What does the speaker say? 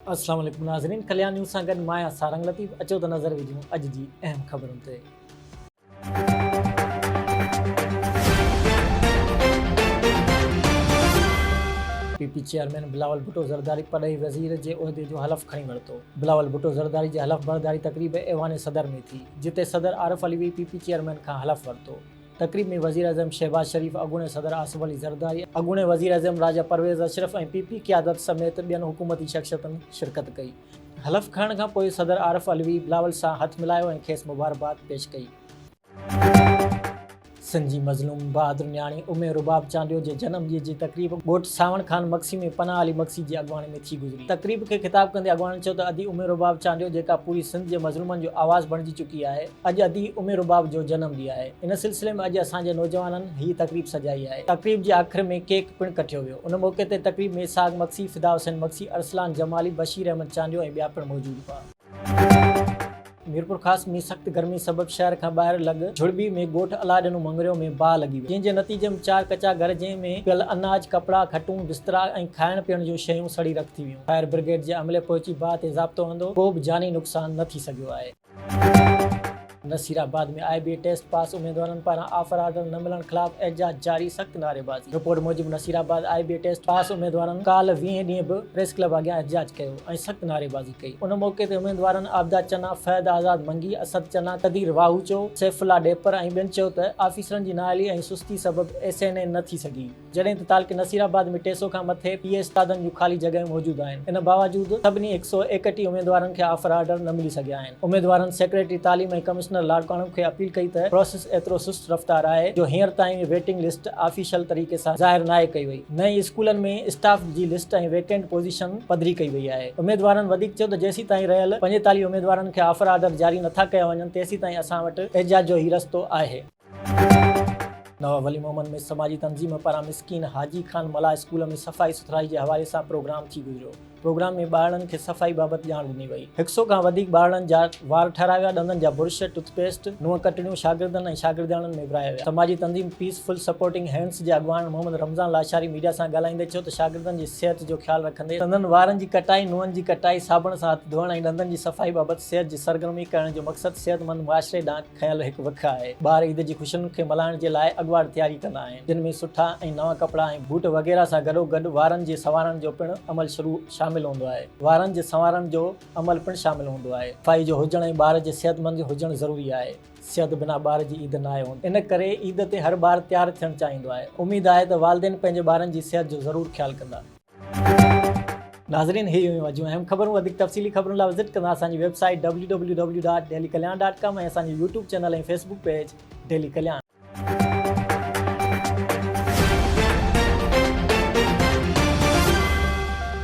السلام عليڪم ناظرين ڪليان نيوز سان گڏ مان آهيان سارنگ لطيف اچو ته نظر وجهون اڄ جي اهم خبرن تي. P P chairman Bilawal Bhutto Zardari پرڏيهي وزير جي عهدي جو حلف کڻي ورتو. بلاول ڀٽو زرداري جي حلف برداري تقريب ايوان صدر ۾ ٿي، جتي صدر Arif Alvi P P chairman کان حلف ورتو. تقريب ۾ وزيراعظم شهباز شريف، اڳوڻي صدر آصف علي زرداري، اڳوڻي وزيراعظم راجا پرويز اشرف ۽ پي پي قيادت سميت ٻين حڪومتي شخصيتن شرڪت ڪئي. حلف کڻڻ کان پوء صدر عارف علوي بلاول سان هٿ ملايو ۽ کيس مبارڪباد پيش ڪئي. سنڌ جي مظلوم بهادر نياڻي امي رباب چانڊيو جي جنم ڏينهن جي تقريب ڳوٺ سانوڻ خان مگسي ۾ پناهه علي مگسي جي اڳواڻي ۾ ٿي گذري. تقريب کي خطاب ڪندي اڳواڻن چيو ته ادي امي رباب چانڊيو جيڪا پوري سنڌ جي مظلومن جو آواز بڻجي چڪي آهي، اڄ ادي امي رباب جو جنم ڏينهن آهي ان سلسلي ۾ اڄ اسان جي نوجوانن هي تقريب سجائي آهي تقريب جي آخر ۾ ڪيڪ پڻ ڪٽيو ويو ان موقعي تي تقريب ۾ اسحاق مگسي فدا حسين مگسي ارسلان جمالي بشير احمد چانڊيو ۽ ٻيا پڻ موجود هئا. ميرپورخاص ۾ سخت گرمي سبب شهر کان ٻاهر لڳ جهڙٻي ۾ ڳوٺ الاڏنو مڱريو ۾ باهه لڳي وئي جنهن جي نتيجي ۾ چار ڪچا گهر جنهن ۾ پيل اناج ڪپڙا کٽون بسترا ۽ کائڻ پيئڻ جون شيون سڙي رک ٿي ويون فائر برگيڊ جي عملي پهچي باهه تي ضابطو هندو ڪو به جاني نقصان نه ٿي سگهيو آهي. نصيرآباد ۾ آء بي ٽيسٽ پاس اميدوارن پاران آفر آرڊر نه ملڻ خلاف احتجاج جاري، سخت نعريبازي. رپورٽ موجب نصيرآباد آء بي ٽيسٽ پاس اميدوارن ڪالهه ويهين ڏينهن به پريس ڪلب اڳيان احتجاج ڪيو ۽ سخت نعريبازي ڪئي، ان موقعي تي اميدوارن عابده چنا، فهد آزاد منگي، اسد چنا، قدير واهوچو، سيف الله ڏيپر ۽ ٻين چيو ته آفيسرن جي نااهلي ۽ سستي سبب ايس اين اي نه ٿي سگهي. جڏهن ته تعلقي نصير آباد ۾ ٽي سؤ کان مٿي پي اي استادن جون خالي جڳهيون موجود آهن، ان باوجود سڀني هڪ سؤ ايڪٽيهه اميدوارن کي آفر آرڊر نه ملي سگهيا آهن، اميدوارن سيڪريٽري تعليم ۽ ڪمشنر لاڙڪاڻو کي اپيل ڪئي ته پراسيس ايترو سست رفتار آهي جو هينئر تائين ويٽنگ لسٽ آفيشل طريقي سان ظاهر ناهي ڪئي وئي نه ئي اسڪولن ۾ اسٽاف جي لسٽ ۽ ويڪنٽ پوزيشن پڌري ڪئي وئي آهي، اميدوارن وڌيڪ چيو ته جيسيتائين رهيل پنجيتاليهه اميدوارن کي آفر آرڊر جاري نٿا ڪيا وڃن تيسيتائين اسان وٽ احتجاج جو هي رستو آهي. نواب ولي محمد ۾ سماجي تنظيم پاران مسڪين حاجي خان ملاح اسڪول ۾ صفائي سٿرائي جي حوالي سان پروگرام ٿي گذريو پروگرام ۾ ٻارڙن کي صفائي بابت ڄاڻ ڏني وئي هڪ سئو کان وڌيڪ ٻارڙن جا وار ٺاهرايا ويا ڏندن جا برش ٽٿ پيسٽ نون ڪٽڙيون شاگردن ۽ شاگردياڻين ۾ ورهايا ويا سماجي تنظيم پيس فل سپورٽنگ هينڊز جي اڳواڻ محمد رمضان لاشاري ميڊيا سان ڳالهائيندي چيو ته شاگردن جي صحت جو خيال رکندي سندن وارن جي ڪٽائي نون جي ڪٽائي صابڻ سان هٿ ڌوئڻ ۽ ڏندن جي صفائي بابت صحت جي سرگرمي ڪرڻ جو مقصد صحتمند معاشري ڏانهن کنيل هڪ وک آهي. ٻار عيد جي خوشين کي ملهائڻ جي لاء اڳواٽ تياري ڪندا آهن، جن ۾ سٺا ۽ نوان ڪپڙا ۽ بوٽ وغيره سان گڏوگڏ وارن جي سنوارڻ جو پڻ عمل شروع شامل هوندو آهي. وارن جي سنوارڻ جو عمل پڻ شامل هوندو آهي. صفائي جو هجڻ ۽ ٻار جي صحتمند هجڻ ضروري آهي. صحت بنا ٻار جي عيد ناهي هوندي. ان ڪري عيد تي هر ٻار تيار ٿيڻ چاهيندو آهي. اميد آهي ته والدين پنهنجي ٻارن جي صحت جو ضرور خيال ڪندا. ناظرين هي هيون اڄ جون اهم خبرون وڌيڪ تفصيلي خبرن لاء وزٽ ڪندا اسان جي ويب سائيٽ www.dailykalyan.com ۽ اسان جو YouTube channel ۽ Facebook page daily Kalyan